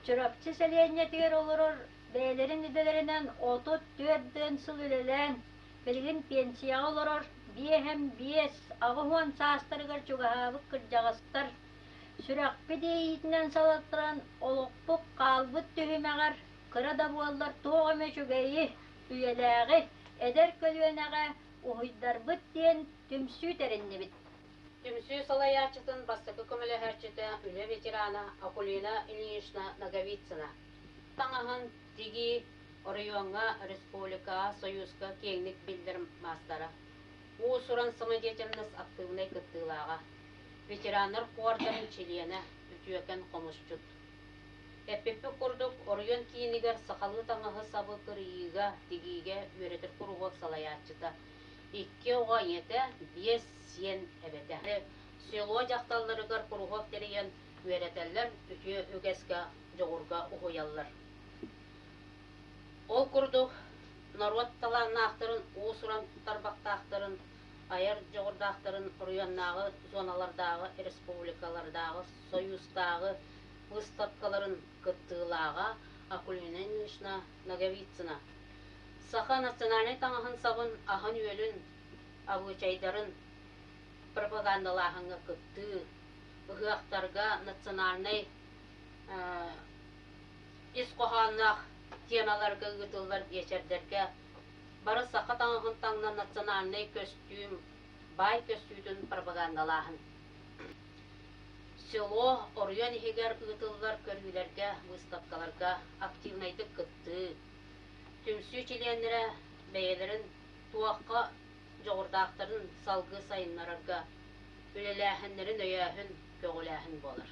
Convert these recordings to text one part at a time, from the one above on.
Чурапчы сэлиэнньэтигэр олорор бэйэлэрин идэлэринэн отут түөрт дьон сыл үлэлээн, билигин пенсияҕа олорор биэһэм биэс аҕыс уон саастарыгар чугаһаабыт кырдьаҕастар сүрэхпит иэйиитинэн салалтаран олохпут хаалбыт түһүмэҕэр кыра да буоллар туох эмэ үчүгэйи Үйэлээҕи эдэр көлүөнэҕэ уһуйдарбыт диэн түмсүү тэриннибит. Түмсүү салайааччытын бастакы көмөлөһөөччүтэ үлэ ветерана Акулина Ильинична Ноговицына, таҥаһын тигии оройуоҥҥа республика Союзка киэҥник биллэр маастара, уус-уран самодеятельность актыыбынай кыттыылааҕа, ветераннар куордарын чилиэнэ, үтүөкэн хомусчут. Эппиппит курдук, оройуон киинигэр сахалыы таҥаһы-сабы кырыйыыга, тигиигэ үөрэтэр куруһуок салайааччыта, икки оҕо ийэтэ, биэс сиэн эбэтэ, село дьахталларыгар куруһуок тэрийэн үөрэтэллэр, үтүө үгэскэ, дьоҕурга уһуйаллар. Ол курдук, норуот талааннаахтарын, уус-уран тарбахтаахтарын, айар дьоҕурдаахтарын оройуоннааҕы зоналардааҕы, республикалардааҕы Сойуустааҕы выставкаларын кыттыылааҕа Акулина Ильинична Ноговицына саха национальнай таҥаһын-сабын аһын-үөлүн, обучайдарын пропагандалааһыҥҥа кыттыы, ыһыахтарга национальнай ис хоһоонноох тиэмэлэргэ ыытыллар биэчэрдэргэ бары саха таҥаһын таҥнар национальнай көстүүм, баай көстүүтүн пропагандалааһын. село оройуон иһигэр ыытыллар көрүүлэргэ выставкаларга активнайдык кыттыы түмсүү чилиэннэрэ бэйэлэрин туохха дьоҕурдаахтарын салгыы сайыннарарга үлэлээһиннэрин өйөөһүн көҕүлээһин буолар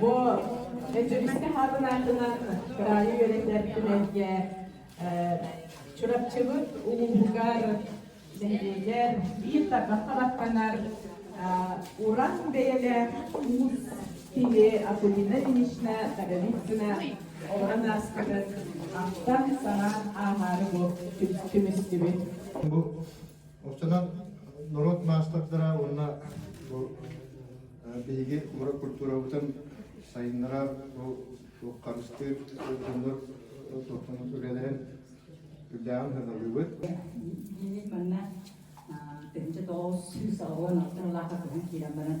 Бу Дьөгүскэ Хаатын аатынан кыраайы үөрэтэр түмэлгэ Чурапчыбыт улууһугар нэһилиэгэ биир тарбахха баттанар уран бэйэлээх уус тиви Акулина Ильинична Даговицына олорон ааспытын ахтан саҥа ааһаары бу түмүстүбүт. Оттонон норуот маастардара уонна бу биһиги кумра культурабытын сайыннара бу харыстыыр дьоннор тохтонон үлэлэрин үрдээҕин сырдалыыбыт. Дии манна тыһынча тоҕус сүүс оҕуон алтан улаахар көһөн киирэн баран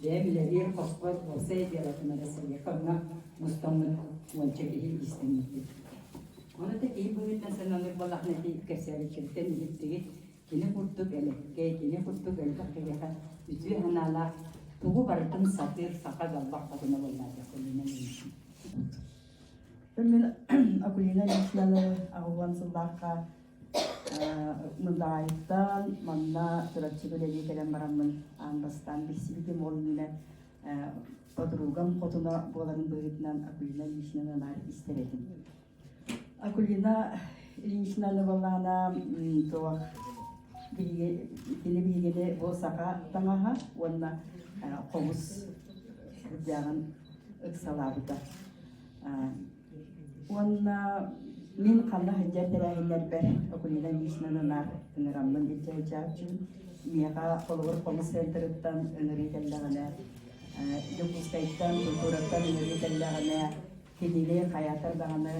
Бэйэм үлэлиир хоспор уопсай бюротuna да сырыыкамҥа мустаммыт уонча киһи иистэммиппит. Ону киһи быһыытынан сананар балаҕан этии кэпсээбиччиттэн иһиттигит кини курдук элэккэй, кини курдук элбэх киһиэхэ үтүө санаалаах тугу барытын сатыыр саха далбах хотуна буоллаатах көлүнэн мин Акулина Лишнялова аҕыллан сыллаахха Мыдаайыттан манна Чурапчыга үлэлии кэлэн бараммын аан бастаан билсибитим ол иһинэн подругам хотуна буоларын быһыытынан Акулина Ильинична наар истэр этим. Акулина Ильинична Набалаана туох биһиги кини биһигини бу саха таҥаһа уонна хобус кырдьаҕын ыксалаабыта. Уонна мин ханна сылдьар тэрээһиннэрбэр Окунина Лишнан анаар ынараммын илдьэ сылдьааччым. Миэхэ холобур хомус центрыттан ынырыы кэллэҕинэ, Дьокуускайтан, культураттан ынырыы кэллэҕинэ, кинини хайаатар даҕаны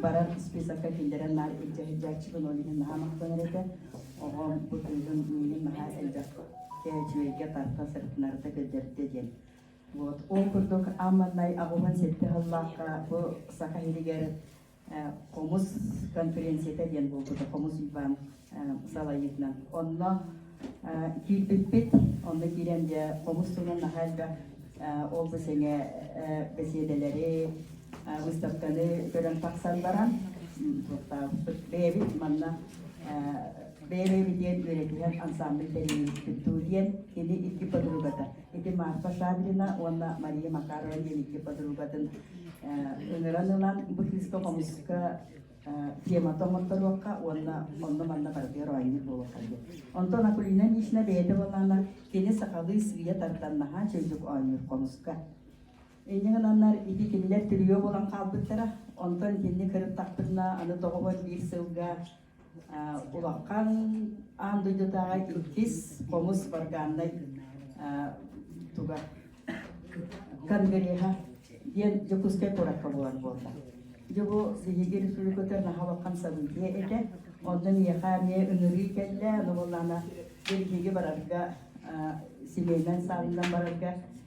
барар списокка киллэрэн наар илдьэ сылдьааччыбын, ол иһин наһаа махтанар этэ. Оҕом бу тыынын миигин наһаа элбэх үчүгэйгэ тарта сырытынарыта көрдөрдө диэн. Вот. Ол курдук Амманнай аҕыбын сэттэ сыллаахха бу саха иһигэр хомус конференцията диэн буолбута хомус Иван салайыытынан. Онно киирбиппит, онно киирэн дьэ хомус тылын наһаа элбэх ол бу сэҥэ бэсиэдэлэри, выставканы көрөн тахсан баран, бэйэбит манна бэйэ-бэйэбитиэн үөрэтиһэр ансаамбыл тэрийбиппит дуу диэн кини икки подругата Ити Марфа Шадрина уонна Мария Макарова диэн икки подругатын ыҥыран ылан быһыыска хомуска темата оҥотторуохха уонна онно-манна барытыгар оонньуур буолуохха диэн. Онтон Акулина Мишна бэйэтэ буоллаана кини сахалыы сыыйа тардан наһаа чөйдүк оонньуур хомуска. Инньэ гынаннар ити кинилэр түрүйө буолан хаалбыттара. Онтон итинник кырыттахпытына аны доҕобор биир сылга улахан аан дойдутааҕы иккис хомус баргааннай туга кангреха диэн Дьокуускай куоракка буолар буолла. Дьэ бу биһиги республиката наһаа улахан событие этэ. Онно миэхэ эмиэ ыҥырыы кэллэ, ну буоллаана бэргиги барарга семейнан саалынан барарга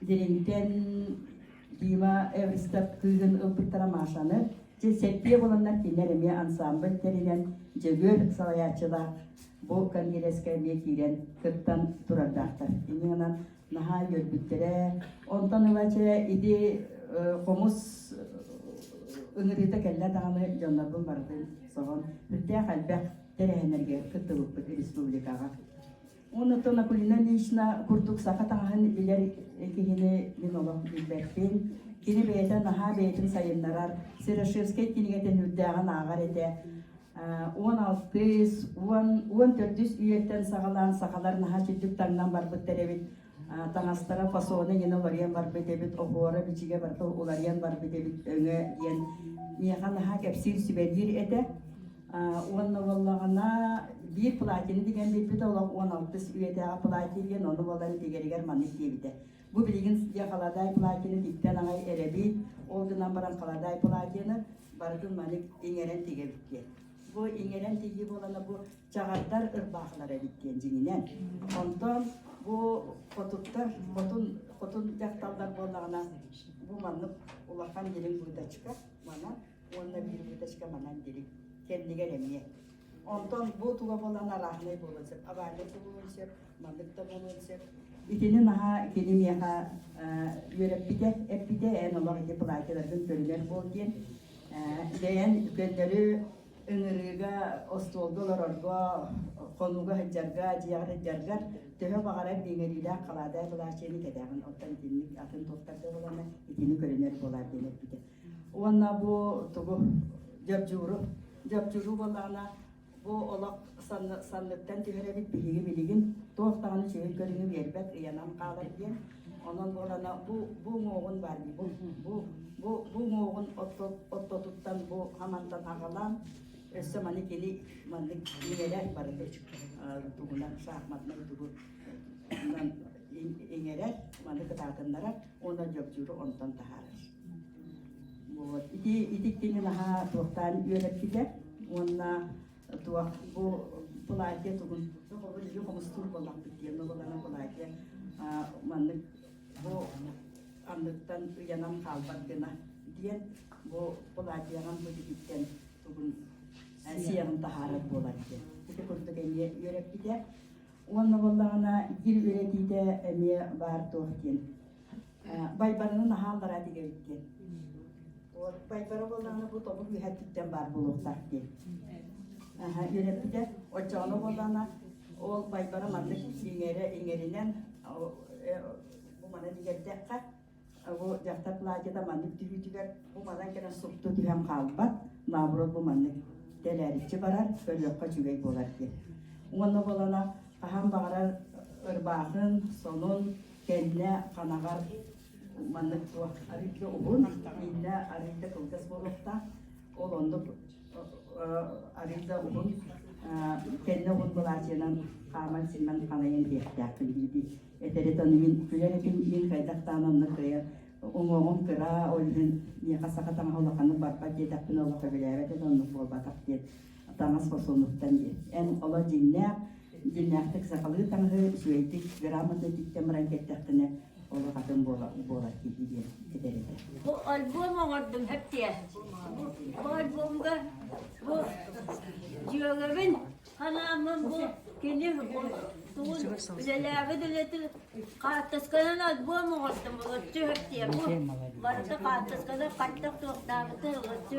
Диринтен Дима ыстаттыгын ылпыттара Машаны, дьэ сэттиэ буланнар кинилэр эмиэ ансаамбыл тэринэн Дьөгүөр салайааччылаах бу конгресска эмиэ киирэн кыттан турардаахтар. Иннинэн наһаа үөрбүттэрэ. Онтон ылача иди хомус ыҥырыыта кэллэ даҕаны дьоннорбун барытын соһон үрдээх элбэх тэрээһиннэргэ кыттыбыппыт республикаҕа. Онутун Акулина Ильинична курдук саха таҥаһын билэр киһини мин олох билбэппин. Кини бэйэтэ наһаа бэйэтин сайыннарар, Серошевскай кинигэтин үрдээҕин ааҕар этэ. Уон алтыс, уон, уон төрдүс үйэттэн саҕалаан сахалар наһаа чирдик таҥнан барбыттар эбит. Таҥастара фасоны гина уларыйан барбыт эбит, оһуора бичигэ барыта уларыйан барбыт эбит өҥө диэн миэхэ наһаа кэпсиир, сүбэлиир этэ. Уонна буоллаҕына, биир платины тигэн билбит олох уон алтыс үйэтээҕи платин диэн, ону буолан тигэригэр маннык диэбитэ. Бу билигин диэ халадаай платины тиктэн аҕай эрэбит, ол гынан баран халадаай платины барытын маннык иҥэрэн тигэбит диэн. Бу иҥэрэн тигии буолана бу чаҕардар ырбаахылар эбит диэн дьиҥинэн. Онтон бу хотуттар, хотун, хотун дьахталлар буоллаҕына, бу маннык улахан дириҥ быытачка, манан уонна биир ленточка манан дири кэннигэр эмиэ онтон бу туга буолан арааһынай буолуон сөп авария буолуон сөп маннык да буолуон сөп итини наһаа кини миэхэ үөрэппитэ эппитэ эн олох ити платьяларгын көрүнэр буол диэн бэйэн көннөрү ыҥырыыга остуолга олорорго хонууга сылдьарга дьиэҕэр сылдьаргар төһө баҕарар иҥэриилээх халаадай былааччыйаны кэтээҕин оттон итинник атын туохтарга ылана итини көрүнэр буолаар диэн эппитэ уонна бу тугу дьабдьууру дьабдьууру буолаана бу олох санны санныттан түһэр эбит биһиги билигин туох даҕаны үчүгэй көрүҥү биэрбэт ыйанан хаалар диэн онон буолана бу бу муоҕун бар бу бу бу бу муоҕун отто оттотуттан бу хамантан аҕалаан өссө маны кини маннык иҥэрэ барыта тугунан шахматнай тугу иҥэрэр маны кытаатыннарар уонна дьобдьууру онтон таһаарар Вот. Ити, ити кини наһаа туохтаан үөрэппитэ уонна туох бу платье тугун оҕолор үһү хомустуур буоллахпыт диэн оҕолорно платье маннык бу анныттан ыйанан хаалбат гына диэн бу платьеҕан бу тигиттэн тугун сиэҕин таһаарар буолар диэн ити курдук эмиэ үөрэппитэ уонна буоллаҕына дир үөрэтиитэ эмиэ баар туох диэн Байбараны наһаа аллараа тигэр диэн. Вот Байбара буоллаҕына бу тобу кыыһаттыттан баар буолуохтаах диэн. Үөрэппитэ оччоҕуна буоллаҕына ол Байбара маннык иҥэрэ иҥэринэн э, бу мана дигэрдэххэ бу дьахтар платьета маннык тирүүтүгэр бу манан кэлэн супту түһэн хаалбат наоборот бу маннык тэлээриччи барар көрүөххэ үчүгэй буолар диэн. Уонна буолана хаһан баҕарар ырбаахын, сонун, кэннэ ханаҕар маннык туох арыйда уһун иллэ арыйда кылгас буолуохтаах ол оннук арыйда уһун кэннэ уһун былаачыйанан хааман симмэн ханайын диэхтээхпин диэти этеритон мин күлэн этим мин хайдахтаан онно кыйа уҥуоҕум кыра ол иһин миэхэ саха таҥаһа улаханнык барбат диэтэхпин олохо билээбэт это оннук буолбатах диэн таҥас фасонуттан диэн. Эн оло дьиҥнээх, дьиҥнээхтик сахалыы таҥаһы, үчүгэйдик грамотатиттан баран кэттэхтинэ, олох атын буола буолар киһи диэн этэр этэ. Бу альбом оҥордум хэптиэ. Бу альбомга бу дьүөгэбин ханааммын бу кини тугун үлэлээбит үлэтин хаартысканан альбом оҥордум ылыччы хэптиэ. Бу барыта хаартысканы хаттах туохтаабыты ылыччы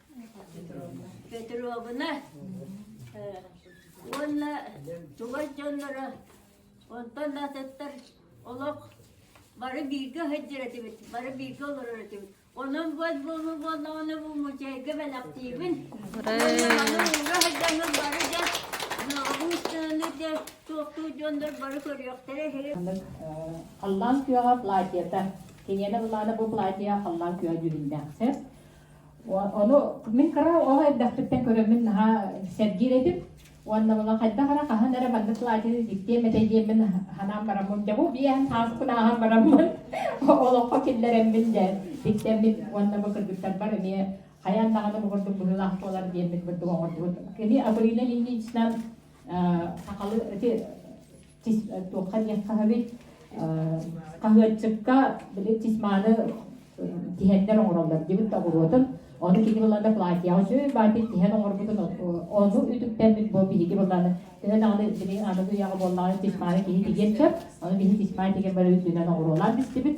Петровна уонна чугас дьонноро онтон атыттар олох бары бииргэ сылдьар этибит, бары бииргэ олорор этибит. Онон буот буолу буоллаҕына бу музейга бэлэхтиибин. Уонна маны уура сылдьаҥҥын бары да Нообуустаны да туохтуу дьоннор бары көрүөхтэрэ үһү. Халлаан күөҕэ платьета. Киниэнэ былаана бу платьеҕа халлаан күөҕэ дьүһүннээхсэр. Ону мин кыра оҕо эрдэхпиттэн көрөммүн наһаа сэргиир этим. Уонна була хайдах эрэ хаһан эрэ маннык платье диктиэм этэ диэммин санаан бараммын дьэ бу биэһэн хааспын ааһан бараммын олоххо киллэрэммин дьэ диктэммин уонна бу кыргыттарбар эмиэ хайаан даҕаны бу курдук быһыылаах буолар диэммин курдук оҥордубут. Кини Аврина Ильиничынан сахалы эти туохха диэх хаһабит хаһыатчыкка били тис мааны тиһэннэр оҥороллор дибит табуруотун ону кини былаана платьяҕа сөй баатыр тиһэн оҥорбутун ону үтүктэммит бу биһиги былааны төһө даҕаны били аныгы үйэҕэ буоллаҕына тисмааны киһи тигиэн сөп аны биһи тисмаа тигэн бары үрдүнэн оҥоруолаан бистибит